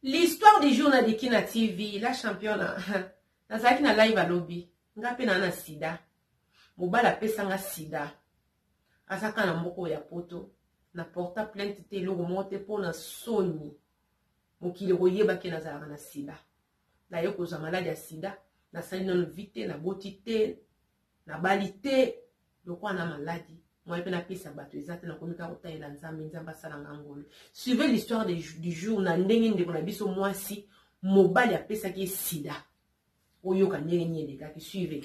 L'histoire du jour na liki na TV, la championa. Nazalaki na live alobi, nga pe na na sida. Mobala pesa nga sida. Azaka na mboko ya poto. Na porta plainte te eloko moko te mpo na soni. Mokili koyeba ke nazalaka na sida. Na yo kozwa maladi ya sida. Nasali nanu vite, naboti te, Na bali te lokola na maladi moyen pe na pesa bato eza te na komi kaka kotalela nzambe nzambe asala nga ngolu suivez l'histoire du jour na ndenge ndeko na biso mwasi mobali apesaki ye sida oyoka ndenge nini elekaki suivez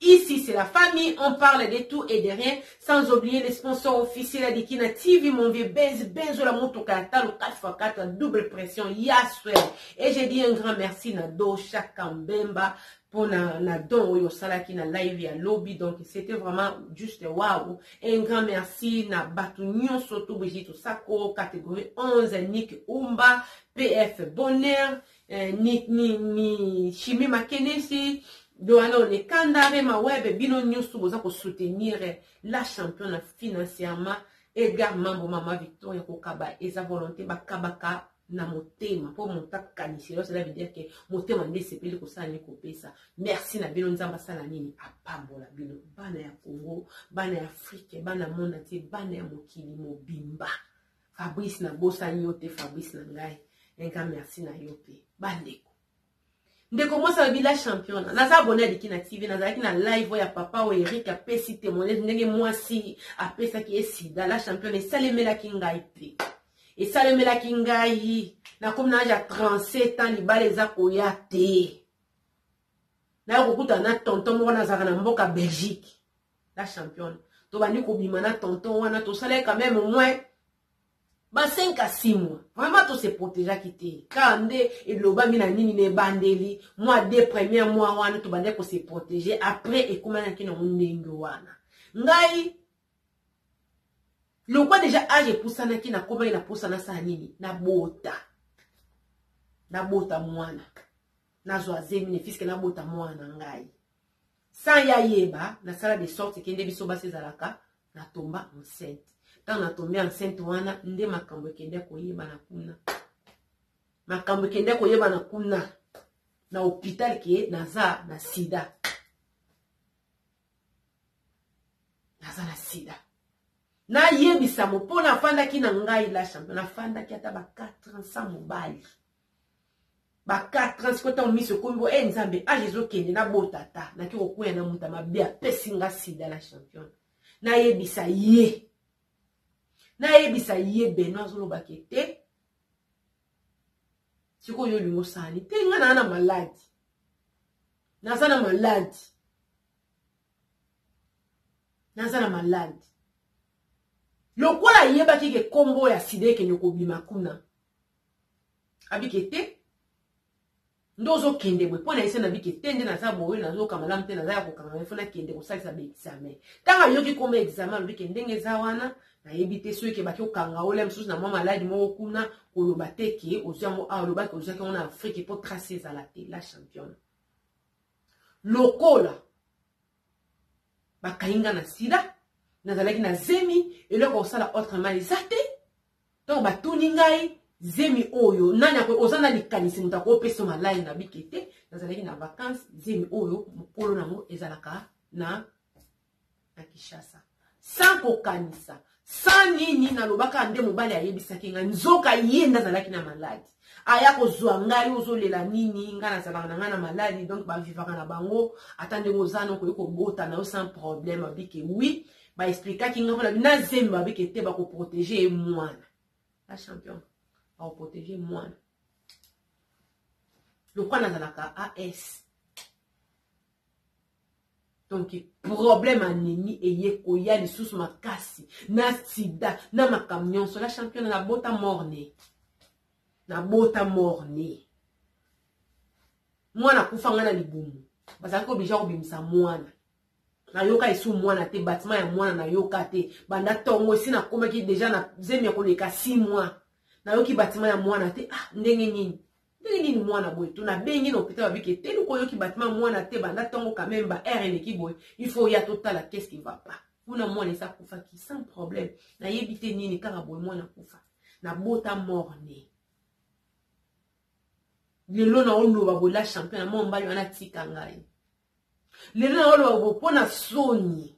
Ici c'est la famille on parle de tout et de rien sans oublier les sponsors officiels ya Dikina TV mon vieux Benz Benzo la motoka ya talo 4x4 double pression ya swell et j'ai dit un grand merci na Do Shaka Mbemba mpo na, na don oyo osalaki na live ya lobi donc c'était vraiment juste waouh et un grand merci na bato nyonso tobwiji tosako catégorie 11 nick umba pf bonheur eh, ni, ni, ni shimi makenesi doano ne kanda rema webe bino nyonso boza kosoutenir eh, la championa financièrement edgar mambo mama victoria kokaba eza volonté bakabaka na motema mpo moto akanisi eloko cela veut dire ke motema nde esepeli kosala nini kopesa merci na bino nzambe asala nini apambola bino bana ya congo bana ya afrike bana mona te bana ya mokili mobimba Fabrice na bosani yo te Fabrice na ngai un grand merci na yo pe bandeko ndeko mwasi alobi la championa naza abone ya dikina tv nazalaki na live oyo ya papa oyo erik apesi témoignage ndenge mwasi apesaki ye sida la championa esalemelaki ngai te esalemelaki ngai nakomi na age ya 37 ans libala eza koya te nayo kokutana na tonton moko nazalaka na mboka belgique la championne tobandi kobima na tonton wana tosalaki quand même au moins ba 5 à 6 mois vraiment to se protégeaki te kaka nde elobami na nini na ebandeli mwa de premier mois wana tobandaki ko se protéger après ekomanaki nango ndenge wana ngai lokwa deja age epusanaki nakomaki na mposa nasala nini nabota nabota mwana nazwa zemi ne fiske nabota mwana na ngai Sans ye ayeba, nasala de sorte que nde biso basi ezalaka na tomba enceinte. Tango na tombe enceinte wana nde makambo ekende koyebana kuna. Makambo ekende koyebana kuna na hôpital que naza na sida. Naza na sida. nayebisamo mpo nafandaki na ngai la champion nafandaki ata ba 4 ans sans mobali ba 4 ans sikoyo ntango miso ekomi bo e eh, nzambe age ezokende nabota ata nake kokweya na moto ya mabe apesi nga sida na champion nayebisa ye nayebisa ye beno azolobaka ete sikoyo yo olingi osani te nga naa na maladi naza na maladi naza na maladi lokola ayebaki ke nkombo ya sida ekende kobima kuna abike te nde ozokende boye mpo na ese nabike te nde naza boye nazoka malamu te naza ya kokanga mai fo nakende kosalisa baexamen ntango ayoki koma examen alobi ke ndenge eza wana nayebi te soki ke baki okanga olia mosusu na mwa maladi moko kuna koloba te ke ozwi yango awa olobaki ozwaki yango na afrike mpo trace ezala te la championne lokola bakangi nga na sida nazalaki na zemi eloko kosala autrement eza te Ntango batuni ngai, Zemi oyo nani ako oza na likanisi moto akopesa yo malai na bike te nazalaki na vacances zemi oyo mokolo nango ezalaka na na Kinshasa sans kokanisa sans nini nalobaka nde mobali ayebisaki ngai nzoka ye nde azalaki na maladi aya kozwa ngai ozolela nini ngai nazalaka na ngai na maladi donc bavivaka na bango ata ndenge oza nokoki kobota na yo sans problème abike wi ba explikaki nga mpona na zemi babi ke te bakoprotege ye mwana ba champion bakoprotege mwana lokwa nazalaka as donc problème anemi eye koya lisusu makasi na sida na makambo nyonso la champione nabota morne nabota morne mwana akufa ngai na libumu bazalaki oblige kobimisa mwana nayoka lisu mwana te batima ya mwana nayoka te banda tongo esi nakomaki deja na zemi ya koleka 6 mois nayoki batima ya mwana te ah ndenge nini ndenge nini mwana boye to nabengi na hôpital babiki eteni koyoki batima mwana te banda tongo quand même ba aire eleki boye il faut ya totala qu'est-ce qui va pas kuna mwana esi akufaki sans problème nayebi te nini kaka boye mwana akufa nabota morne lelo naoloba boye la champion na mwa mobali wana atika ngai lelo na oloba bo mpo na soni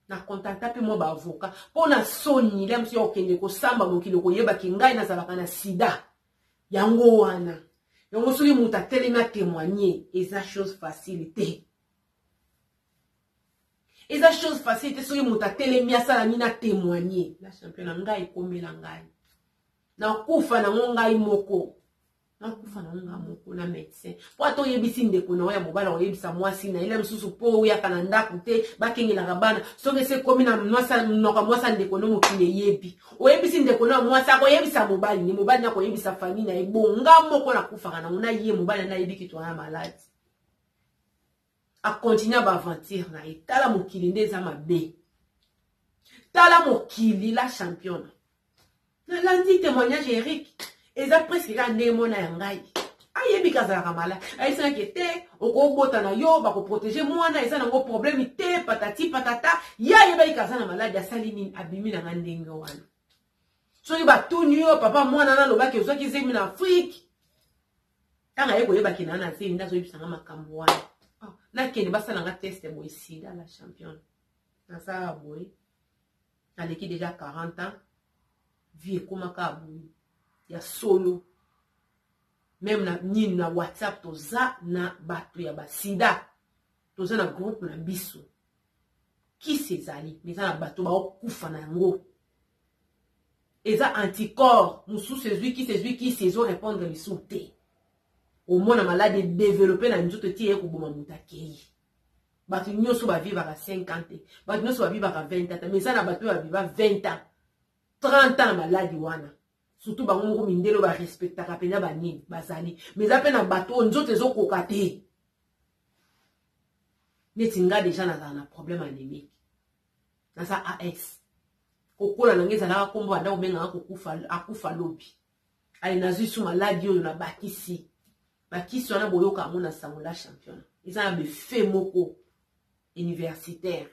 na contacta mpe mwa baavoka mpo na soni lia mosu ya kokende kosamba mokili okoyebaki ngai nazalaka na sida yango wana yango soki moto atelemi atemoigne eza chose facile te eza chose facile te soki moto atelemi asala nini atemoigne la champion na ngai ekomela ngai nakufa nango ngai moko nakufa nango nga moko na medecin po ata oyebisi ndeko na yo ya mobali akoyebisa mwasi na ye na mosusu po oyaka na ndako te bakengelaka bana soki esi ekomi na monoko ya mwasi ya ndeko no mokili eyebi oyebisi ndeko na ya mwasi akoyebisa mobali ni mobali nakoyebisa famille na ye bonga moko nakufaka nango na ye mobali anayebi kitwana maladi a continue ba aventure na ye tala mokili nde eza mabe tala mokili la championa nalandi témoignage ya eric eza presque kaka ndenge mwana ya ngai ayebi kazalaka mala ayebisaki te okobota na yo bakoprotege mwana eza nango problème te patati patata ye ayebaki kaza na maladi asali nini abimi na nga ndenge wana soki batuni yo papa mwana nalobaki ozwaki zemi na afrike Tanga ye koyeba ke na na zemi nde azoyebisa nga makambo wana ah, nakende basala nga teste boye sida la championne nasalaka boye naleki deja 40 ans vie ekomaka boye ya solo meme na nini na whatsapp toza na bato ya basida toza na groupe na biso kisi ezali me eza na bato baokufa na yango eza anticorps mosusu ezwi kisi ezwi kisi ezo répondre lisusu te omona maladi edevelope na nzoto ti eye koboma moto akei bato nyonso bavivaka 5 ans te bato nyonso bavivaka 20 ans te me eza na bato oyo baviva 20 ans 30 ans na maladi wana surtout bango moko mindele oyo barespectaka mpenza banini bazali ma eza mpe na bato oyo nzoto ezokoka te neti nga deja nazala na problème anémique naza as kokola na ngai ezalaka nkombo banda kobengaka kokufa akufa lobi ale nazwi su maladi oyo na bakisi bakisi wana boyoka yango na sango la championa eza na befe moko universitaire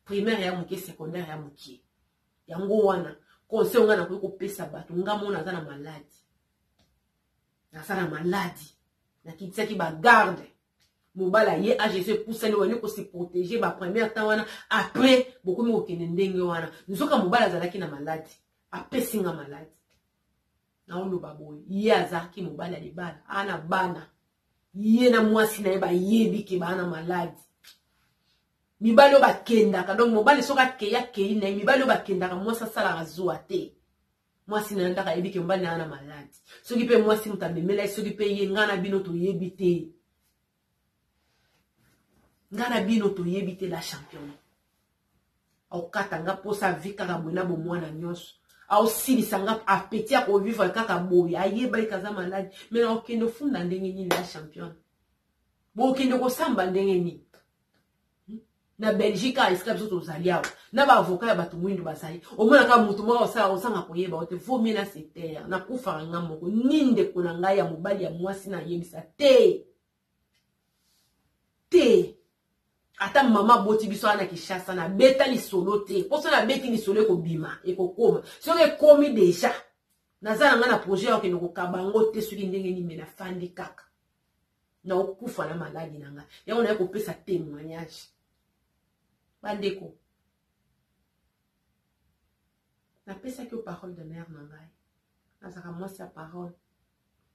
primaire ya moke secondaire ya mokie yango wana conseil nga nakoki kopesa bato nga mona naza na maladi naza na maladi nakitisaki bagarde mobala ye agc epusani wani kose protege ba première temps wana après bokomi kokende ndenge wana nzoka mobala azalaki na maladi apesi nga maladi naoloba boye ye azalaki mobali ya libala ana bana ye na mwasi na ye bayebi ke baa na maladi Mibali oyo bakendaka donc mobali soki akei akei na ye mibali oyo bakendaka mwasi asalaka zuwa te mwasi na ye ndaka ayebi ke mobali na ye na maladi soki mpe mwasi moto amemela ye soki mpe ye ngai na bino toyebi te ngai na bino toyebi te la champione aokata nga mposa avi kaka boye na bomwana nyonso aosilisa nga apeti ya kovivre kaka boye ayebaki kaza maladi mai na okende ofunda ndenge nini la champione bokende kosamba ndenge nini na belgique awa esika biso tozali awa na baavoka ya bato moindo bazali omonaka moto moko osala osanga koyeba ote vomie na setere nakufaka nga moko ni ndeko na ngai ya mobali ya mwasi nayebisa te te ata mama aboti biso wana kishasa nabeta lisolo te mpo so nabeti lisolo ekobima ekokoma soki ekomi deja naza na ngai na projet ya kokende kokaba yango te soki ndenge nini me nafandi kaka naokufa na maladi na ngai yango naye kopesa témoignage bandeko napesaki yo parole de mare na ngai nazalaka mwasi ya parole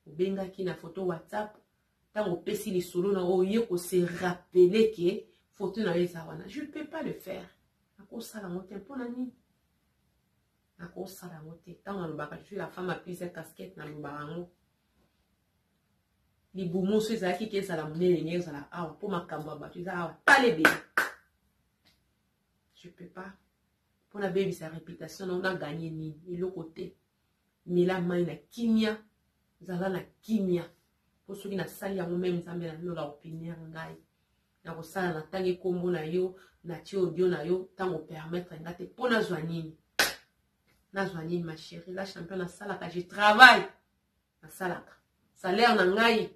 obengaki na foto whatsapp ntango opesi lisolo na oye kose rappele ke foto na yo eza wana je peux pas le faire nakosala yango te mpo na nini nakosala yango te ntango nalobaka je suis la femme aprise ya casquette nalobaka yango libumu so ezalaki te ezala monene nde ezala awa mpo makambo ya bato eza awa pale ebele je peux pas mpo nabebisa reputation nao naganye nini eloko te mela mai na kimia zala na kimia mpo soki nasali yango meme nzambe na lola opiniere ngai nakosala natangi nkombo na yo natie audio na yo ntango permettre nga te mpo nazwa nini nazwa nini ma chérie la champion nasalaka je travaille nasalaka salaire na ngai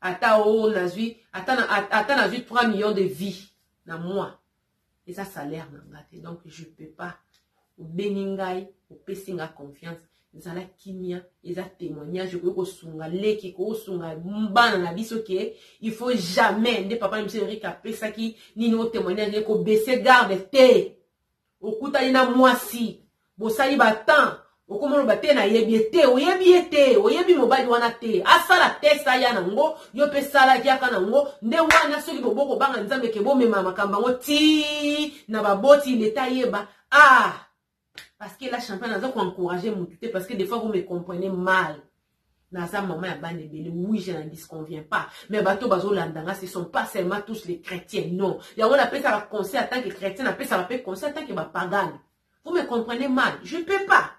ata o oh, nazwi ata na ata nazwi 3 millions de vie na mois eza salaire na nga te donc je peux pas obengi ngai opesi nga confiance zala kimia eza témoignage okoki kosunga leki kosunga bana na biso ke il faut jamais nde papa na biso erika apesaki nini otémoignage ekobese garde te Okutani na mwasi, bosali ba temps, okoma oloba te nayebi ye te, oyebi ye te, oyebi mobali wana te, asala test aya na ngo, yo pe sala yaka na ngo, nde wana soki bo boko banga Nzambe ke bomema makambo yango ti na ba boti l'etat ayeba, ah! Parce que la championne aza ko encourager mutu te parce que des fois vous me comprenez mal. Naza maman ya bana ebele oui je n'en disconviens pas mais bato oyo bazolanda nga ce sont pas seulement tous les chrétiens non yango napesaka conseil en tant que chrétien napesaka mpe conseil en tant que bapagane vous me comprenez mal je peux pas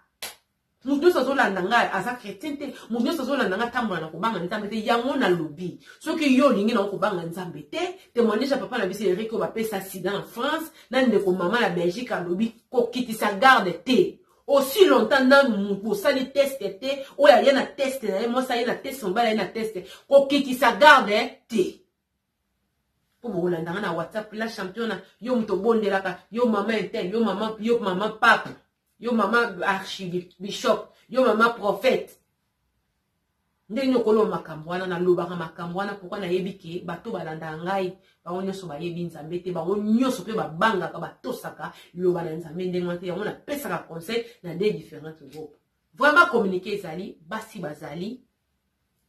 moto nyonso azolanda ngai aza chrétien te moto nyonso azolanda ngai atambola na kobanga nzambe te yango nalobi soki yo olingi nango kobanga nzambe te témoignage ya papa na biso erik oyo bapesa sida na france na ndeko mama na belgique alobi kokitisa garde te Aussi longtemps nanu mutu bosali test te, oyo aye na test na ye, mwasi aye na test, mobali aye na test, kokitisa garde te. Po bokolanda nga na WhatsApp, la championa, yo mutu obondelaka, yo mama intel, yo mama, yo mama pape, yo mama archibishop, yo mama prophète. Ndenge nini okoloba makambo wana? Nalobaka makambo wana pourquoi nayebi ke bato balandaka ngai bango nyonso bayebi Nzambe te, bango nyonso mpe babangaka batosaka liloba na Nzambe ndenge wana te, yango napesaka conseil na deux differentes groupes. Vraiment communiquer ezali, basi bazali,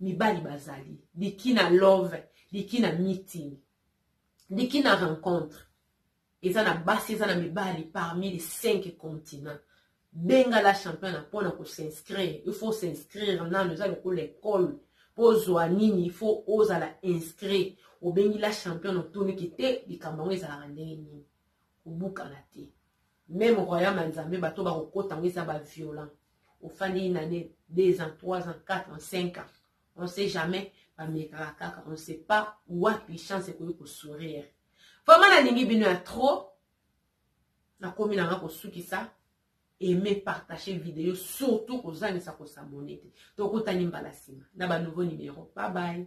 mibali bazali, dikina love, dikina meeting, dikina rencontre. Eza na basi eza na mibali parmi les cinq continents. Benga la championa mpo na ko s'inscrire. Il faut s'inscrire nano eza lokola école. Mpo ozwa nini il faut ozala inscrit. Obengi la championa otuni ki te likambo yango ezalaka ndenge nini. Kobukana te. Meme royaume ya Nzambe bato bakokota yango eza ba violent. Ofandi une année, deux ans, trois ans, quatre ans, cinq ans. On sait jamais bamekaka kaka on sait pas wapi chance ekoki kosourire. Vraiment nalingi bino ya trop. Nakomi nanga kosukisa. Aimez, partagez video, surtout kozangisa ko s'abonner te. Tokutani mbala sima na ba nouveau numero. Bye bye.